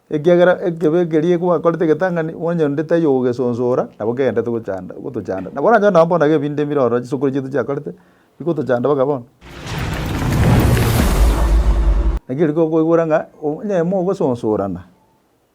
Ekiagera ekebe ekeria gwakorete egetang'ani, onye onde tari ogogesonsora, nabo kegenderete gochanda, gotochanda. Nabo oranyore nonye bono ebinto ebire ororo chisokoro chiaito chiakorete, bigotochanda mpaka bono. Naki riria okoigwera ng'a onye mogososorana.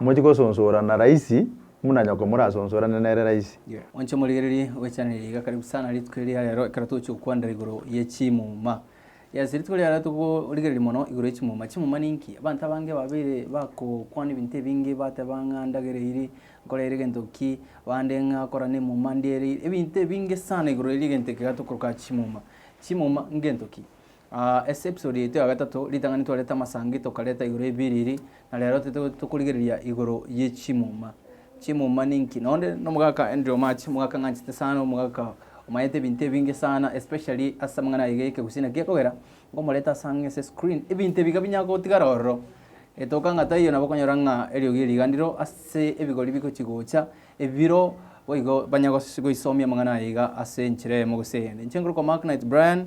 Mochi gosonsorana raisi muna nyoko morasonsorane nere raisi. Inche omorigereria ogwechanereria iga karibu sana rituko eria rero ekero togochia gokwanera igoro ye chimuma. Yes rituko eria rero togorigereria mono igoro ye chimuma. Chimuma ninki? Abanto abange babeire bagokwana ebinto ebinge bateba ng'a ndagera eyiri nkorere egento ki, bande ng'a kora na emuma ndiere eyiri, ebinto ebinge sana igoro eria egento eke iga tokoroka chimuma. Chimuma ngento ki? Aa, ase episodi yaito ya gatato, ritang'ani twareta amasangi tokareta igoro y'ebiriri, na rero tete tokorigereria igoro ye chimuma. Chimuma ninki? Nonde nomogaka Andrew March, omogaka ng'anchete sana, omogaka omanyete ebinto ebinge sana, especially ase amang'ana aye y'ekegusii, naki akogera ngomoreta ase ang'e ase screen, ebinto ebi iga binya gotigara ororo. Etoka ng'a taiyo nabo okonyora ng'a eriogi eriganiro ase ebigori bigochi gocha, ebiro boigo banya gos goisomia amang'ana aye iga ase enchera eyemo gose eyende. Inche nkore kwa Mark Knight Brian,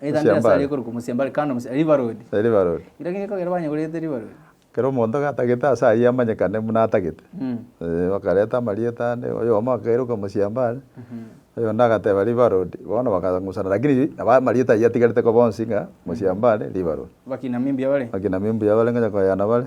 Eira nde ase aria ekorokwa Mosiambare, kando Mosiambare, River Road. River Road. Rirorio ng'eko ekero banyegorete River Road. Ekero omonto gatagete ase ayio amanyekane buna atagete. Eeh bakareta amarieta ande, oyomo akairoka Mosiambare, oyonde agateba River Road, bono bakang'usana lakini nabo amarieta ayio atigarete koba onsi ng'a Mosiambare, River Road. Bakina mimbuya bare. Bakina mimbuya bare ngonya koyana bare.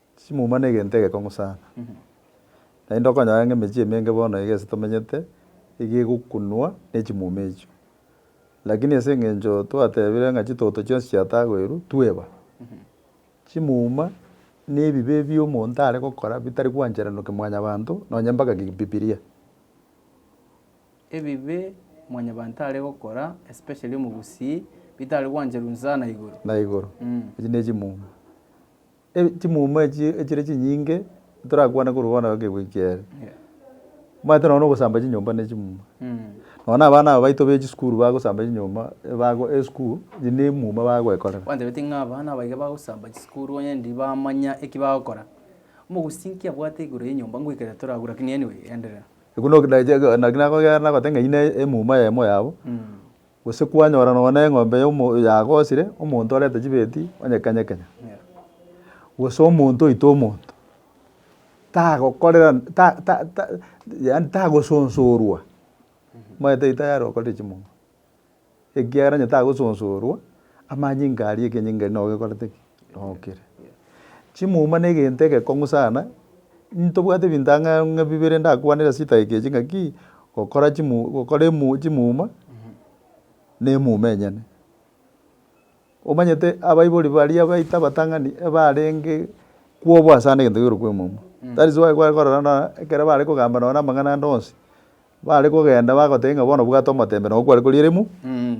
Chimuma negento egekong'u sana, naende okonyora ng'a emechie emenge bono iga ase tomenyete iga egokunwa nechimuma echio. Lakini ase eng'encho twatebire ng'a chitoto chionsi chiatagoirwe, tweba. Chimuma na ebibe ebio omonto are gokora bitari gwancheranokia mwanyabanto nonye mpaka bibilia. Ebibe mwanyabanto are gokora especially omogusii, bitari gwancherwa sana igoro. Na igoro. Echio nechimuma. Chimuma echi echire chinyinge torakwane korwa bono egekegwa eke kiaye, omanyete nonya ogosamba chinyomba ne chimuma. Nonya na abana aba baito be chisukuru bagosamba chinyomba bago esukuru eye ne emuma bagwekorera. Kwantebeti ng'a abana aba iga bagosamba chisukuru onye ndi bamanya eki bagokora. Omogosinki abwate igoro yenyomba ngoikere torabu lakini anyway endelea. Ekero naki nagokera nagote ng'a eyio ne emuma eyemo yabo. Gose kwanyora nonya neng'ombe yagosire, omonto orente chibeti onye kenya kenya, gose omonto oite omonto, tagokorera ta ta ta yaani tagosonsorwa, omanyete erio tayari okorire chimonga, ekiagera onye tagosonsorwa, amanyinga aria ekenyinga erio nabo gekorete ki. Nokire. Chimuma negento egekong'u sana, ntobwate ebinto ang'e ng'a bibere ndakwanere ase chidakika echi ng'a ki, gokora chimu gokora emu chimuma, na emuma enyene. Omanyete abaibori baria baito abatang'ani ebarenge kwobua sana egento kegerwa kwa emuma. That is why kware korora buna ekero bare kogamba nonye na amang'ana ande onsi, Bare kogenda bagoteba ng'a bono bwate omotembe nao kware koriera emu. Mm.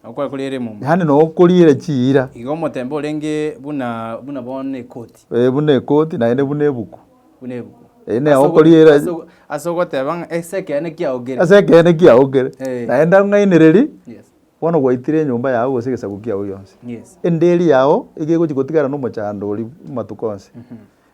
Nao kware koriera emumbe. Yaani nao koriera chiira. Igo omotembe orenge buna buna bono ekoti. Eh, buna ekoti naende buna ebuku. Buna ebuku. Eh, ne okoriera- Ase ogo- ase ogoteba ng'a ase ekeene kiaokire. Ase ekeene kiaokire. Eh. Naende ang'ainereria, Yes. bono gwaitire enyomba yao gose egesaku kiao gionsi. Yes. Enderi yao iga egochi gotigara na omochando oria matuko onsi.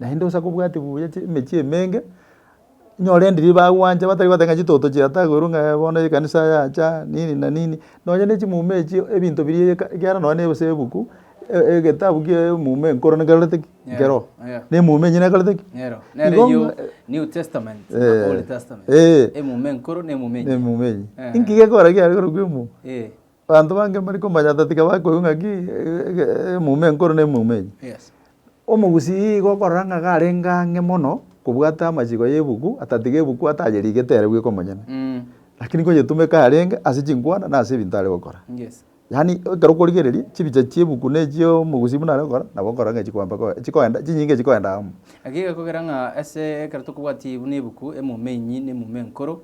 Naende onsi akobwate buya chi emechie emenge, nyore ndiri bagwancha batari goteba ng'a chitoto chiatagerwe ng'a ee bono ekanisa yacha nini na nini, nonye ne chimuma echio ebinto biria eka ekiagera nonye ne gose ebuku e- egetabu kia eyomouma enkoro nekerorete ki? Nkerogo. Nkerogo. Na emouma enyia nekorete ki? Nero, nere Igo eyio ng'a- New Testament na Eh. Old Testament. Eh. Emouma enkoro na emouma enyia. Emouma enyia. Eh. Inki gekorora kiaye korokwa emouma? Eh. Abanto bange mbare komanya ata tiga bakoigwa ng'aki eyomo enkoro ne eyomo enye. Omogusii igo okorora ng'a iga arenge ang'e mono kobwate amachiko ya ebuku ata tiga ebuku ata ayerigete ere bweka omonyene. Lakini konyetumeka yarenge ase chinkwana na ase ebinto are gokora. Yaani ekero okorigereria chibicha chia ebuku na echia omogusii buna are gokora nabo okorora ng'a chikoamba koa chikoenda chinyinge chikoenda amo. Naki gekogera ng'a ase ekero tokobwatia buna ebuku eyomo enyi na eyomo enkoro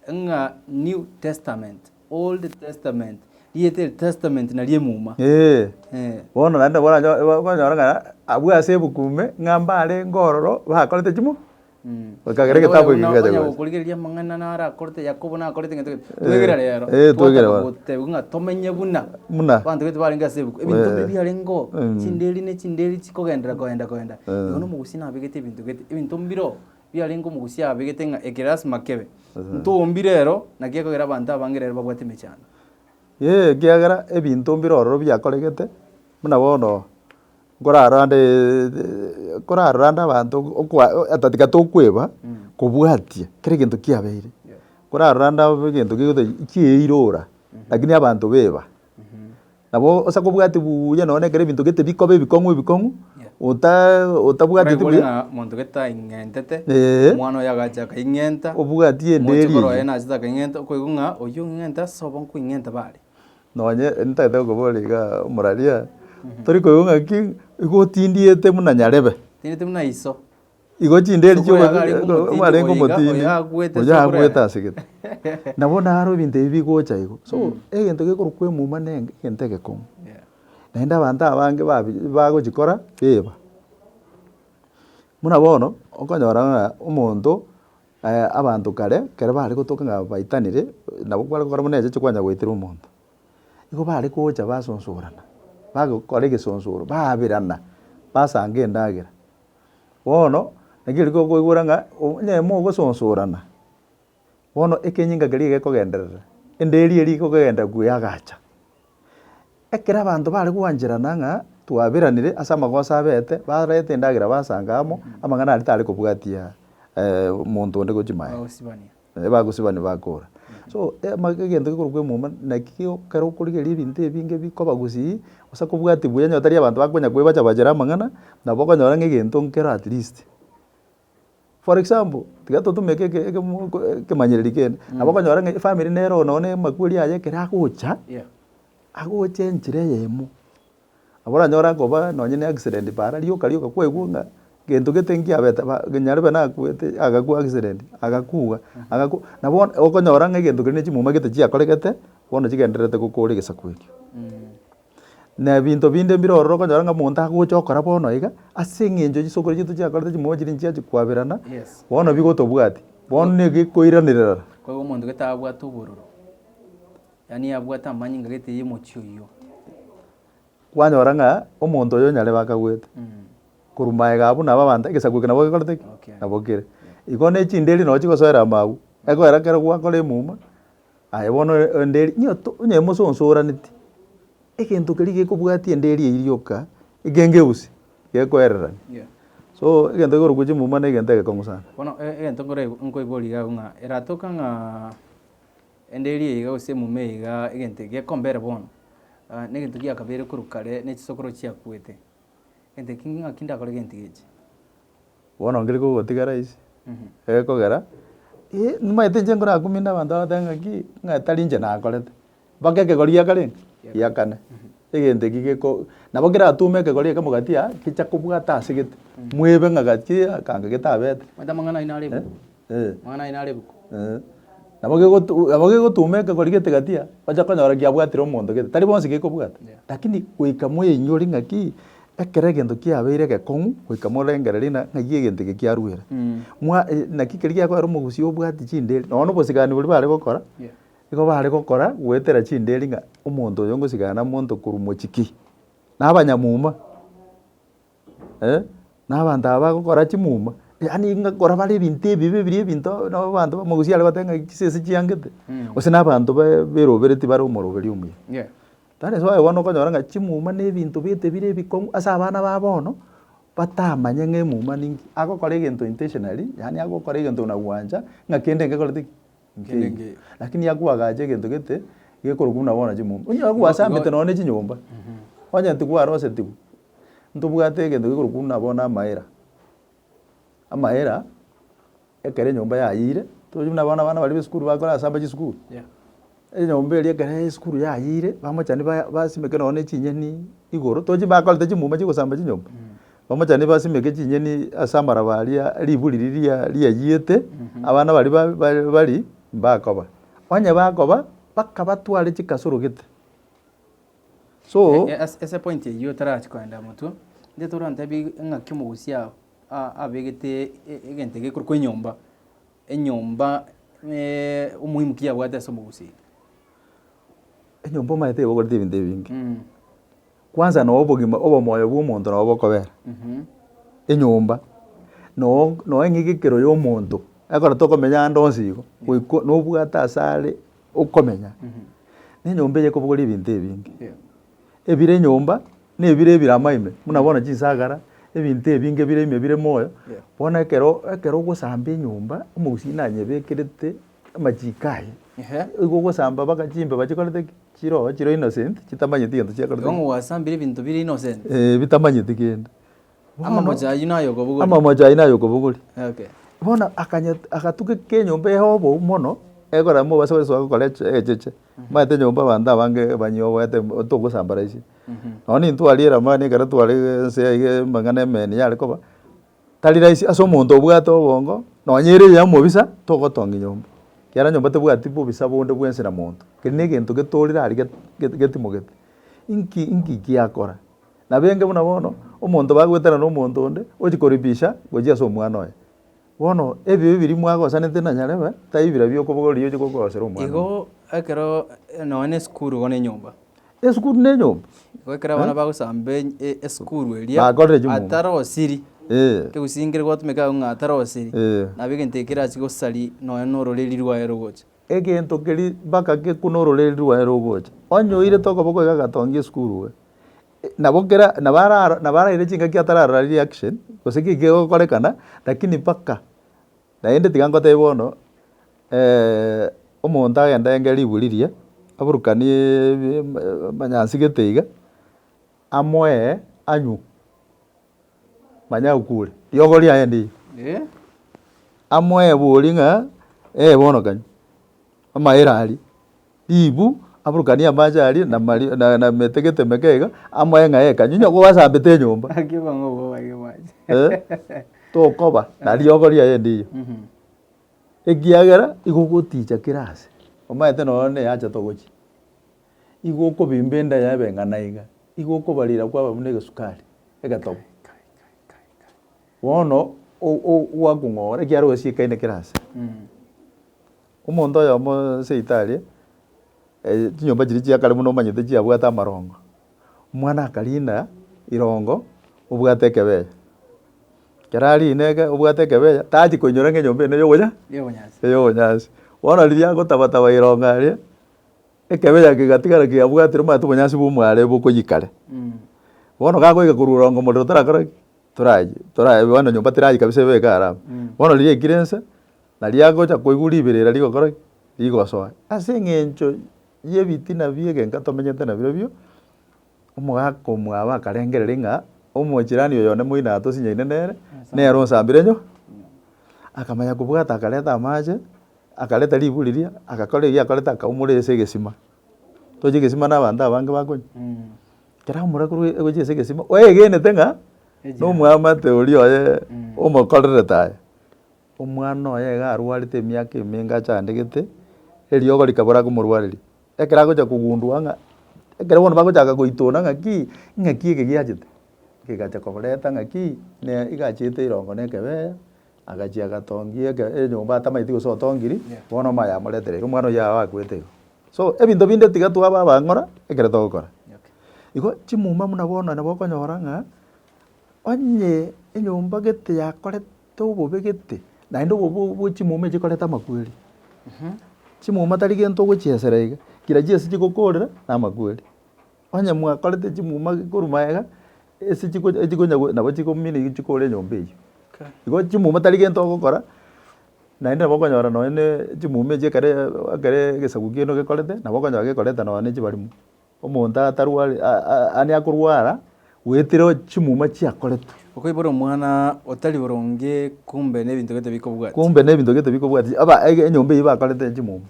ng'a New Testament Old Testament, rieta eri Testament nari emuma. Ee, Eh. bono naende nabwo oranyo- oba- okonyora ng'a abwo ase ebuku ime, ng'a mbarenge ororo bakorete chimo, Mm. bakagera Naende egetabu oyo eke buna- kigacha onya gocha. gokorigereria amang'ana naro akorete Yakobo nakorete gento gento. Eh, Twegere rero, eh, twegere twataka bono. gotebiwa ng'a tomenye buna Buna. abanto baito barenge ase ebuku. Ebinto Eh. mbibe biarenge oo, Mm. chinderi ne chinderi chikogenderera koenda koenda. Eh. Igo na omogusi nabegete ebinto gete, ebinto mbire oo, Biarenge omogusia abegete ng'a eke lasima kebe. Intwe mbi rero, naki ekogera abanto abange rero babwate emechando? Ee, ekiagera ebinto mbi rororo biakoregete, buna bono nkorarande nkorarande abanto okwa ata tiga tokweba kobwatia kera egento kiabeire. Nkorarande egento gegotebi kieirora, lakini abanto beba. Nabo ase kobwati buya nonye nekero ebinto gete bikoba ebikong'u ebikong'u, ota otabwateti Oraigwore buya, ng'a monto gete aing'entete, Ee. omwana oyo agacha akaing'enta, obwati omochie enderi korwa oye eyio. nachete akaing'enta, okoigwa ng'a oyio ong'enta ase obo nkoing'enta ba are. Nonye ntagete gokobora iga omorwaria, tori koigwa ng'aki, igo otindiete buna nyarebe. Otindiete buna iso. Igo chinderi Oboyo chi'obo- yarenge eh, omotindi, obarenge oyo iga- omotindi, oyo agoete oyo ase agoete okorenda. ase gete. Na bono aro ebinto ebi bigocha igo. So, egento gekorokwa emuma nenge egento egekong'u. Yeah. Naende abanto abange babi bagochi kora biba. Buna bono, okonyora ng'a omonto abanto kare, ekero bare gotoka ng'a baitanire, nabo kware gokora buna echiche kwanya goitera omonto. Igo bare gocha basosorana, bagokora egesosoro, baabirana, basanga endagera. Bono naki riria tokoigwera ng'a onye mogosonsorana, bono ekenyinga keria gekogenderera, enderi eria ekogenderera buya yagacha. Ekero abanto bare gwancherana ng'a twaberanire ase amagoso abete, bareta endagera basanga amo, amang'ana aria tare kobwatia omonto onde gochia maega. Naende bagosiba nibakoora. So, amagega egento gekorokwa emuma naki kego ekero okorigereria ebinto ebinge bikoba gosii, gose kobwati buya onye tari abanto bakonya koebacha bachere amang'ana, nabo okonyora ng'a egento nkero at least. For example, tiga totumeke eke ekemo eke ekemanyereri kende, nabo okonyora ng'a efamiri nere oo nonye na amakweri aye ekero agocha, agocha enchera eyemo. Abwo oranyore akoba nonye ne accident paara rioka rioka kwaigwa ng'a gento gete nkiabete ba nyarebe nakwete agakwa accident agakwa agakwa na bono okonyora ng'a egento kere ne chimuma gete chiakoregete bono chigendererete gokora egesaku ekio. Na ebinto binde mbire ororo okonyora ng'a omonto agocha okora bono iga ase eng'encho chisokoro chiaito chiakorete chimuma chiria nchiachi kwaberana bono bigotobwati bono nege koiranerera. Yaani abwate amanyinga gete y'omochie oyio. Kwanyora ng'a omonto oyo nyarebe akagwete. Korwa magega abwo nabo abanto egesaku eke nabo gekorete ki? Nabo kere. Igo ne chinderi noo chigosoera amagwe, egoera kero gwakora emuma, aye bono enderi onye mososoraneti, egento keria gekobwatia enderi eyio rioka, ekengeusi, gekoererania. So egento ekorokwa chimuma na egento egekong'u sana. Bono egento nkore nkoigwa rigabu ng'a eratoka ng'a. Ende eria iga gose emume iga egento gekomba ere bono, negento giakabeire korwa kare ne chisokoro chiakuete. Egento eki ng'aki ndakore gento echi. Bono nkere kogotigara ase egekogera, eh, nimaete inche nkore akuminde abanto bagoteebe ng'aki, ng'a tari inche nakorete, mpaka ekegori giakorenge? Giakane. Egento eki geko nabo keratume ekegori ekemo gati aa gecha kobwata ase gete, mwebe ng'a gati aa akanga getabete. Omanyete amang'ana aino are ebuku? Eh. Amang'ana aino are ebuku? Eh. Nabo gegotu nabo gegotuma ekegori gete gati aa, ocha konyora giabwatire omonto gete, tari bonsi gekobwata. Yeah. Lakini goika mweinyore ng'aki, ekero egento kiabeire egekong'u, goika morengererie ng'a ng'ai egento eke kiaruere. Mwa naki keri giakoera omogusii obwati chinderi, nonya na obosigani boria bare gokora, Yeah. Igo baare gokora goetera chindeeri ng'a omonto oyo ngosigana nomonto korwa mochiki, na abanyamuma, eh, na abanto aba bagokora chimuma, yaani ng'a kora bare ebinto ebibe biri ebinto nabo abanto bamagusii are goteeba ng'a chisese chiangete, gose na abanto ba- beroberetie bare omoroberi omuya. Yeah. That is why bono okonyora ng'a chimuma na ebinto bete bire ebikong'u ase abana ba bono, batamanye ng'a emuma ninki, agokora egento intentionally, yaani agokora egento na gwancha ng'a kende engekorete ki. nkeiyo. Lakini nigo akoagacha egento gete gekorokwa buna bono chimomba. Onye gwasambete nonya ne chinyomba, onye tigwarosetigwe, ntobwate egento gekorokwa buna bono amaera. Amaera, ekero enyomba yayiire, tochi buna bono abana baria ba esukuru bakorasamba chisukuru. Enyomba eria ekero ya esukuru yayiire, bamochani ba- basimeke nonya ne chinyeni igoro, tochi bakorete chimuma chia ogosamba chinyomba. Bamochani basimeke chinyeni ase amaraba aria riburi riria riayiete, abana baria bari mbakoba. Onye bakoba, bakabatware chikasoro gete. So. Ase point eyio tarachi koenda motwe, intwe tore ontebie ng'aki omogusi ao abegete egento eke gekorokwa enyomba, enyomba omoimu ki abwate ase omogusi. Enyomba omanyete egogorete ebinto ebinge. Kwansa noo obogima obomoyo bw'omonto nabo bokobera enyomba noo noo eng'egekero y'omonto ekero tokomenya ande onsi igo goikwa nobwate ase are okomenya na enyomba eye ekobogora ebinto ebinge ebire enyomba na ebire ebiramwa ime buna bono chinsagara ebinto ebinge ebire ime ebire moyo bono ekero ekero ogosamba enyomba omogusii nanyebekete. Amachiko aye Ehe. igo ogosamba mpaka chimbe bachikorete ki? chiroho chire innocent chitamanyeti gento chiakorete Igo ki? ng'o gwasambire ebinto bire innocent? Eh, bitamanyeti kende Bono, Amamocho ayio naye okobogori. amamocho ayio naye okobogori Okay. bono akanya agatukeka enyomba eye obou mono ekorera mobase gosoa gokora eche egecheche maete enyomba abanto abange banyie oboete mb- togosambaraisia. Nonye intwe aria eramani ekero tware ense iga amang'ana emeni yare koba, Tari rahisi ase omonto obwate obongo, nonye ere oye omobisa, togotongi nyomba, ekiara nyomba tebwati bobisa bonde bwensi na monto, keri negento getorire aria get get getimogete. Inki inki giakora? Nabo enge buna bono, omonto bagoetera na omonto onde, ochi koripisha gochia ase omwana oye. Bono ebibe biria mwagosanete na nyarebe, tai birabio okobogoria ochi gokosera omwana oye. Igo ekero nonye na esukuru igo na enyomba. Esukuru nenyomba. Igo ekero abana bagosamba esukuru eria atare osiri, egusingire gwatumeka agwo ng'a atare osiri, nabo egento eke kerachi gosari nonya nororeri rwaye rogocha. Egento keria mpaka gekwe nororeri rwaye rogocha. Onye oirete okoboko iga agatongia esukuru iga, nabo kera nabo araro nabo araire chingaki atararora reaction gose ki kigokorekana lakini mpaka Naende tiga ngotebe bono, omonto agende aenge riburi riye, aburukanie emanyansigete iga, amoe anywe, manye akure. Riogo riaye ndiiya. Amoe boria ng'a, ee bono kanywe, amaere aria. Ribu, aburukanie amache aria na mari, na, na mete geteme kega, amoe ng'a eka, nyonya gwasambete enyomba. Gaki oba ng'a obobarie amache. Eh, tokoba na riogo riaye endiiyo. Mhm. Ekiagera igo ogoticha kera ase, omanyete nonya na eyacha togochia, igo okobimba enda yaye ebe ng'ana iga, igo okobarira kwaba buna egesukari, egetogo. Kai, kai, kai, kai. Bono, o- o- gwakong'ora ekiagera ogasiekaine kera ase. Mm. Omonto oyomo seito aria, chinyomba chiria chiakare buna omanyete chiabwate amarongo, omwana akarinda irongo obwate ekebeyo. Ekero arinde eke obwate ekebeyo, tachi koinyora ng'a enyomba ene eyokonya eya obonyansi. Bono riria agotaba taba irongo aria, ekebeyo eke kegatigara kiabwatire omanyete obonyansi bwa omware bokoyia kare. Bono gakoika korwa irongo omorero torakore ki? Torayie, bono enyomba terayi kabisa ebe eke araba. Bono riria yaikire inse. Na riagocha koigwa riberera rigokora ki? Rigosoa. Ase eng'encho y'ebitina bi'egenka tomenyete nabirobio, omogaka omwabo akarengereria ng'a omochirani oyo one moino atosinyaine nere, nere onsambire nyo. Akamanya kobwata akareta amache, akareta riburi riria, agakora eria akorete akaumora ase egesima. Tochi egesima na abanto abange bakonywa? Ekero aumora korwa egochia ase egesima, oegenete ng'a nomwamate oria oye omokorerete aye. Omwana oye iga arwarete emiaka emenge achandegete, eriogo rikabora komorwareria. Ekero agocha kogundua ng'a, ekero bono bagochaka goitona ng'aki, ng'aki eke giachete, kegacha koreta ng'aki, ne iga achiete erongo na ekebeya, agachia agatongia eke enyomba atamaeti gose otongiri, bono omaya amoreterire, omwana oyio yao akwete igo. So, ebinto binde tiga twaba abang'ora, ekero togokora. Igo chimuma buna bono nabo okonyora ng'a, onye enyomba gete yakorete. tobobegete, naende obo bo bwo chimuma echi chikoreta amakweri. Chimuma tari gento ogochiesera iga, kira chiasie chigokorera na amakweri. Onye mwakorete chimuma korwa magega, ase chiko echikonya go nabo chikomina iga chikore enyomba eywo. Igo chimuma tari gento ogokora, naende nabo okonyora nonye ne chimuma echi ekere ekere egesaku kiano gekorete, nabo okonyora gekoreta nonye ne chibarimo. Omonto atarwari, aane akorwara, goetera chimuma chiakoretwe. Okoibora omwana otari boronge kumbe nebinto gete bikobwati. Kumbe nebinto gete bikobwati, aba enyomba eyio bakorete chimuma.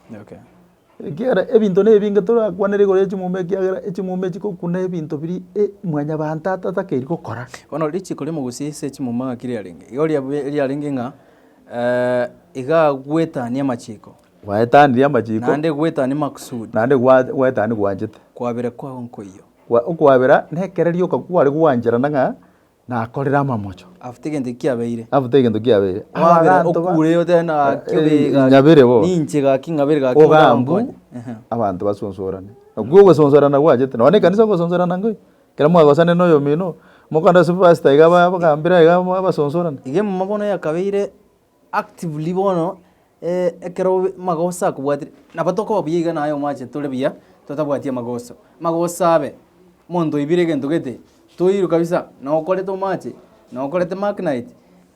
Ekiagera ebinto nebinge torakwanere igoro yechimuma ekiagera echimuma echi chikokuna ebinto biria mwanyabanto atatakeri gokora. Bono richiko rimo gose ase echimuma ng'aki riarenge? Igo riarenge ng'a iga agwetania amachiko. Gwaetanirie amachiko. Naende gwaetania makusudi. Naende gwaetania gwanchete. Kwabera kwao nkoiyo. Okwabera nekereria oka kware gwancherana ng'a nakorire amamocho. After egento eki kiabeire. After egento kiabeire. Kwabera okure otebe naki obeega. Ng'abere bo. Ninche gaki ng'abere gaki. Ogambu abanto basonsorane. Nakwo ogosonsorana gwanchete. Nonya ekanisa ogosonsorana nkoiyo. Ekero mwagosane na oyomino. Mokorenda ase pastor iga abagambere iga basonsorane. Iga emomo bono yakabeire. actively bono ekero magoso akobwatire, nabo tokoba buya iga naye omwache tore buya totabwati amagoso. Amagoso abe, monto oibire egento gete, toirwe kabisa na okorete omache, na okorete mark night,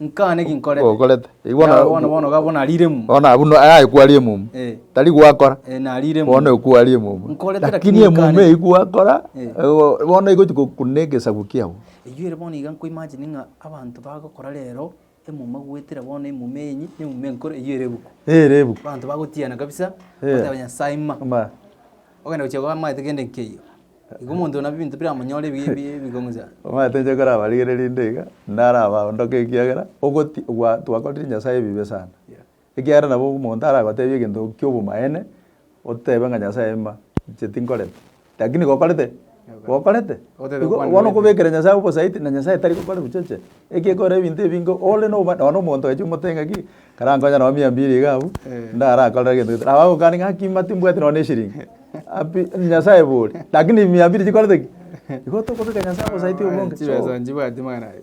nkaa naki nkorete. Okorete. Yara bono bono iga bono arire emumu. Bono abwo no aye kwari emumu. Eh. Tari gwakora. Eh, narire emumu. Bono ekwari emumu. Nkorete lakini Lakini emumu nkane. eyio gwakora, Eh. eh, bono igochi gokuna egesaku kiago. Eyio ere bono iga nkoimagine ng'a abanto bagokora rero Emuma goetera bono emuma enyi, ne emuma enkoro, eyio ere ebuku. Ere ebuku. Abanto bagotiana kabisa, Eh. bagoteba Nyasae ima. Ima. Ogenda gochia koba amaete kende nkeiyo. Igo omonto nabo ebinto biramonyore ebi- ebi- ebigong'isa. Omanyete inche nkorabarigererie nde iga, ndarabaondoke ekiagera, ogoti gwa twakorire Nyasae ebibe sana. Yeah. Ekiagera nabo omonto aragotebie egento ki'obomaene, otebe ng'a Nyasae ima, inche tinkoreti. Lakini gokorete, gokorete. Otebe Igo kwani bono goeteti. okobekera Nyasae obosaiti, na Nyasae tari gokora ebichoche. Eki ekore ebinto ebinge ore noba nonya omonto oeche omotebie ng'a ki, karankonye nao mia mbiri iga abwo, ndarakorere egento gete. Nabo agokania ng'a gaki ima timbwati nonya na eshirini. Happy Nyasaye bore. Lakini mia mbili chikorete ki? Igo tokobeka Nyasaye obosaiti obonge. So, Chibeso nchibwati mwana aye.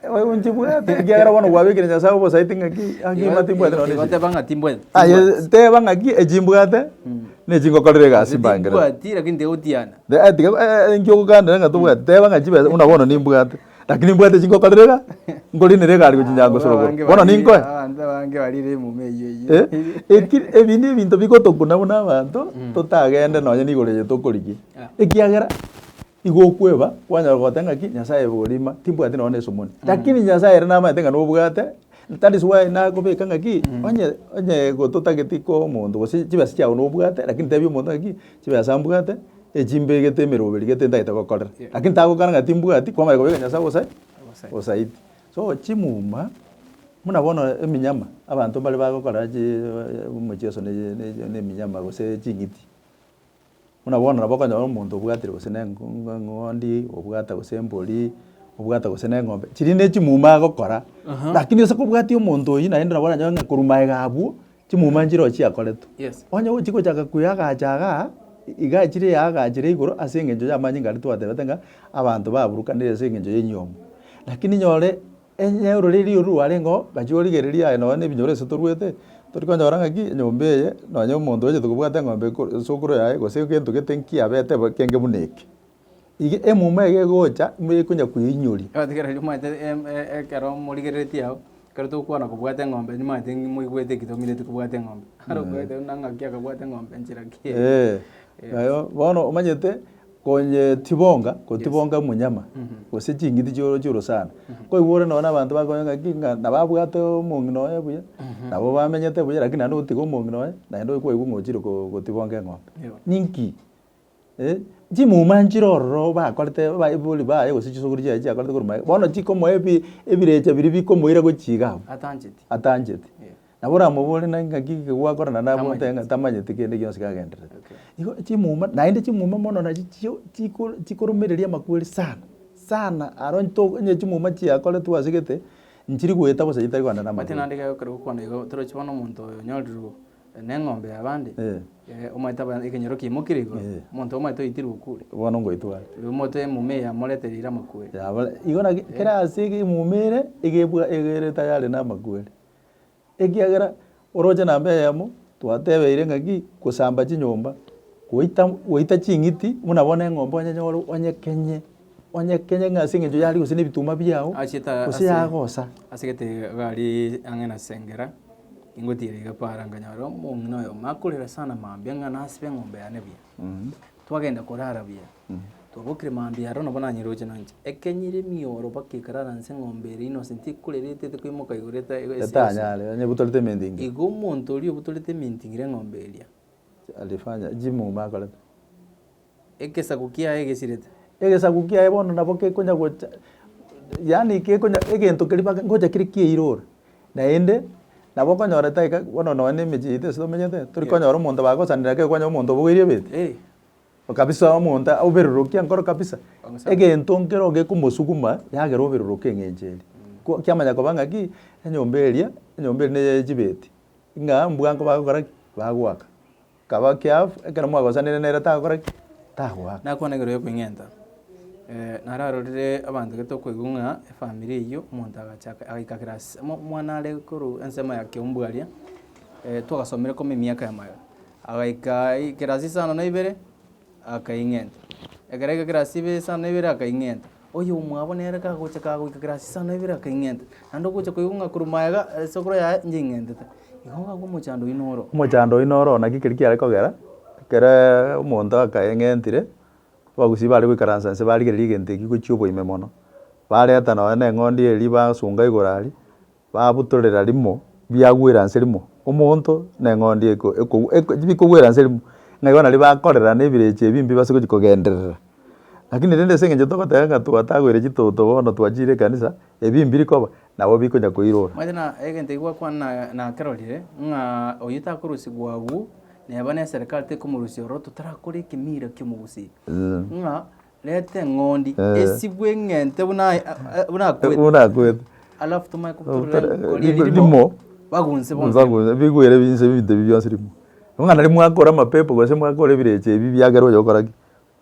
eh, oyo nchibwate, ekiagera bono gwabekire Nyasaye obosaiti ng'aki angima timbwate nonye Igo chi. teba ng'a timbwati. Aye teba ng'aki echimbwate nechingokorera egasi Gose mbangere. timbwati lakini tiga gotiana. Eh, tiga eh, eh, enkio ogokandera ng'a tobwate. Teba ng'a chibesa buna bono nimbwate. Lakini mbwate chingokorera iga, nkorina ere egari gochia Nyangosorogoro. Bono ninkoe? Abanto abange barire emuma eyio eyio. Eh, eki- ebi nebinto bigotokuna buna abanto totagende nonye na igoro eye tokorigia, ekiagera igo okweba kwanyora goteba ng'aki Nyasaye borima timbwati nonye na esomoni. Lakini Nyasaye ere namanyete ng'a nobwate, that is why nakobeka ng'aki, onye onye igo totageti koa omonto gose chibesa chiago nobwate, lakini tebia omonto ng'aki, chibesa mbwate. Echimbe egete emeroberi egete ntagete gokorera lakini tagokana ng'a timbwati kwamanya kobeka Nyasae obosa obosaiti. So chimuma buna bono eminyama abanto mbare bagokora chi omochieso ne ne eminyama gose ching'iti buna bono nabo okonyora omonto obwatire gose ne engo eng'ondi obwata gose embori obwata gose ne eng'ombe chiria ne chimuma agokora lakini ase kobwatia omonto oyio naende nabo oranyore ng'a korwa magega abwo. Chimuma nchirochio chiakoretwe. Yes. Onye gochi gochaka kuya agacha igaa, igaa chire igaa agacha chire igoro ase eng'encho y'amanyinga aria twatebete ng'a abanto baburukanire ase eng'encho y'enyomo. Lakini nyore enye ororeri oru rwarengeo gachia origereria aye nonye na ebinyoro ase torwete, tori konyora ng'aki enyomba eye nonye omonto ochete kobwate eng'ombe ko esukuru yaye gose egento gete nkiya bete bo ekenge buna eke. Iga emuma eye egocha nigo ekonya kweinyoria. Egotigerera nimomanyete ekero morigereretie ao, ekero togokwana kobwate eng'ombe nimomanyete ng'ai moigwete ki tomineti kobwate eng'ombe. Aro okoete buna ng'aki akabwate eng'ombe nchera ki eye. Eeh, nayo bono omanyete konyetibonga kotibonga monyama gose ching'iti chioro chioro sana. Koigwa ore nonye na abanto bakonya ng'aki ng'a nabo abwate omong'ina oye buya, nabo bamenyete buya, rakini naende ogotiga omong'ina oye, naende oye kwaigwa ng'a ochire ko gotibonga eng'ombe. Ninki? Eh, chimuma nchire ororo bakorete Abaibuli baye gose chisokoro chiaye chiakorete korwa maega, bono chikomoa ebi- ebirecha biria bikomoira gochia iga abwo Atancheti. atancheti Eh. nabo oramobore naki ng'aki ki gwakora na nabo Tamanyeti. oteba ng'a tamanyeti kende gionsi kagendererete. Okay. Igo chimuma naende chimuma mono nachi chio chiko chikoromereria amakweri sana sana aro onye to onye chimuma chiakoretwe ase gete, nchiri goeta bosa chitari kogenda na Omanyete amakweri. naende ekero gokwana igo torochi bono omonto oyo onyorirwe neng'ombe y'abande, Eh. eh, omanyete aba- ekenyoro kiaimokire igoro, Eh. omonto omanyete oitirwe okure, Bono ngoitware. rirorio omonto emuma eye yamorete riire amakweri. Yabare, igo naki kera ase ege emuma ere, egebwa egere tayari na amakweri. Ekiagera, oroche namba eyemo, twatebeire ng'a ki, gosamba chinyomba, goita, goita ching'iti, buna bono eng'ombe onyenyore onyekenye. Onye kenya ng'a ase eng'encho y'aria gose nebituma biao, Achiete aa gose ase- yagosa. Ase egetebe iga aria ang'e na Sengera, ningotiire iga kwaara nkanyora omong'ina oyomo akorera sana mambia ng'a nasibe eng'ombe yane buya. Twagenda korara buya, twabokire mambia aro nabo nanyare gocha nanche. Ekenyire emioro mpaka ekarara nse eng'ombe eria innocent ekorera etete koimoka igoro eta- ese- ese- Etanyare, onye botorete eminting. Igo omonto oria obotorete eminting ere eng'ombe eria. Alifanya, chimuma akorete. Egesaku kiaye gesirete. Egesaku kiaye bono nabo gekonya gocha, yaani gekonya egento keria mpaka ngocha kere kiairora. Naende, nabo okonyora taiga bono nonya na emechie yaito ase tomenyete, tori konyora omonto bagosanera ekero kwanyora omonto obogoirie ebeti, Eeh. Kabisa omonto oberuruke enkoro kabisa. Egento nkero gekomosuguma yagera oberuruke eng'encho eria. Ko kiamanya koba ng'aki, enyomba eria, enyomba eria neye ya chibeti, ng'a mbwango bagokora ki? Bagoaka. Kaba keafu, ekero mwagosanire nere tagokora ki? Tagoaka. Nakonegerwa ekweng'enta. Eh, nararorire abanto gete okoigwa ng'a efamiri eyio, omonto agacha aka- agaika class mo- omwana are korwa ensemo ya kiombwe aria, eh, twagasomire koma emiaka yamayo, agaika i- class isano na ibere. akaing'enta. Ekero aika kirasi ibe saa na ibere akaing'enta. Oyo omwabo nere kagocha kagoika kirasi saa na ibere akaing'enta. Naende ogocha koigwa ng'a korwa maega esakura yaye inche ing'entete. Igo ngakwa omochando oino oro. Omochando oino oro naki keria kiare kogera, ekereee omonto akaing'entire, abagusii bare goikaransa inse barigereria egento ekio gochia oboime mono. Bareta nonya na eng'ondi eria basunga igoro aria, Babutorera rimo, biagwera nse rimo, omonto na eng'ondi eko ekogw eko bikogwera nse rimo, ng'a igo nario bakorera na ebirecha ebimbe base gochia kogenderera. Lakini rende ase eng'encho togoteba ng'a twatagwere chitoto bono twachiire ekanisa, ebi mbiri koba, nabo bikonya koirora. Manyete na egento ekio gwakwana na nakerorire, ng'a oyio takorusigwa agwo, neba na eserekari tekomorusia ororo totarakora ekemira ki'omogusii, ng'a. Reta eng'ondi Eh. esibwe eng'ente buna aye- a- buna akwete. Buna akwete. Alafu tomae Obuta- kobutorera koria rimo- rimo. rimo. Bagunse bonsi. Bago- bigwere binse ebinto ebi bionsi rimo. Buna riria mwakora amapepo gose mwakora ebirecha ebi biagera oyo ogokora ki?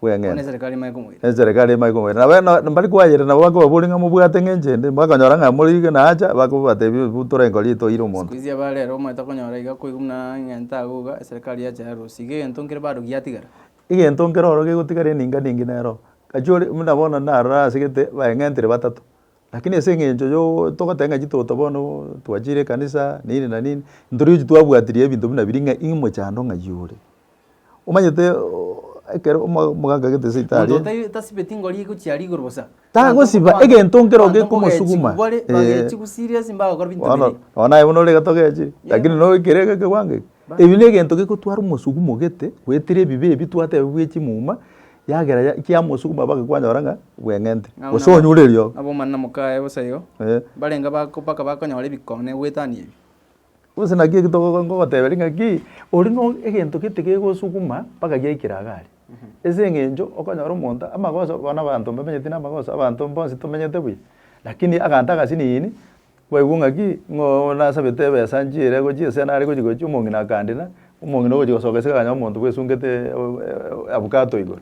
Bono Bweng'enta. eserekari nimaye komoira. Eserekari nimaye komoira. Nabo eno- na mbari kwayerera nabo bakobaboria ng'a mobwate ng'a enche ende, bakonyora ng'a mori iga na acha, bakobatebia bu tore nkori etoire omonto. Sikuizi abarero omanyete okonyora iga koigwa buna eng'ente agwo iga eserekari yacha yarusia. Iga egento nkere barugi yatigara. Egento nkere oro gegotigara eninga ninge nero, gaki ore buna bono narora asegete baeng'entire batato, rakini ase eng'encho yoo togoteba ng'a chitoto bono twachire ekanisa nini na nini, ntori gochi twabwatirie ebinto buna biria ng'a ii mochando ng'ai ore. Omanyete ekero omogaka agete esibitari. Monto otai tasibeti ngori egochia rigoro bosa. Tagosiba egento nkero gekomosuguma. Abanto mogochi bare bagechi gusiria ase mbao gokora binto Bono, bire. bono naye buna ore iga togechi, lakini no ekere ege ekewango eke. Ebi negento gekotwara omosugumo ogete, goetera ebibe ebi twateba bwe chimuma, yagera ya kiamosuguma baka kwanyora ng'a bweng'ente. Ng'a Gose buna- onyure erio. Ng'a bomanera mokaye bosa igo, Eh. mbarenge bako mpaka bakonyora ebikone goetania ebi. Gose naki eki togo ngogoteberia ng'aki, oria no egento gete gegosuguma mpaka giaikire iga aria. Ase eng'encho okonyora omonto amagoso bono abanto mbamenyeti na amagoso, abanto mbonsi tomenyete buya, lakini agante agasiniini, kwaigwa ng'aki ng'a oo nasabete ebesa nchiire gochia ase nare gochia gochia omong'ina akandira, omong'ina ogochia gosoka ase akanyora omonto bwesungete avocado igoro.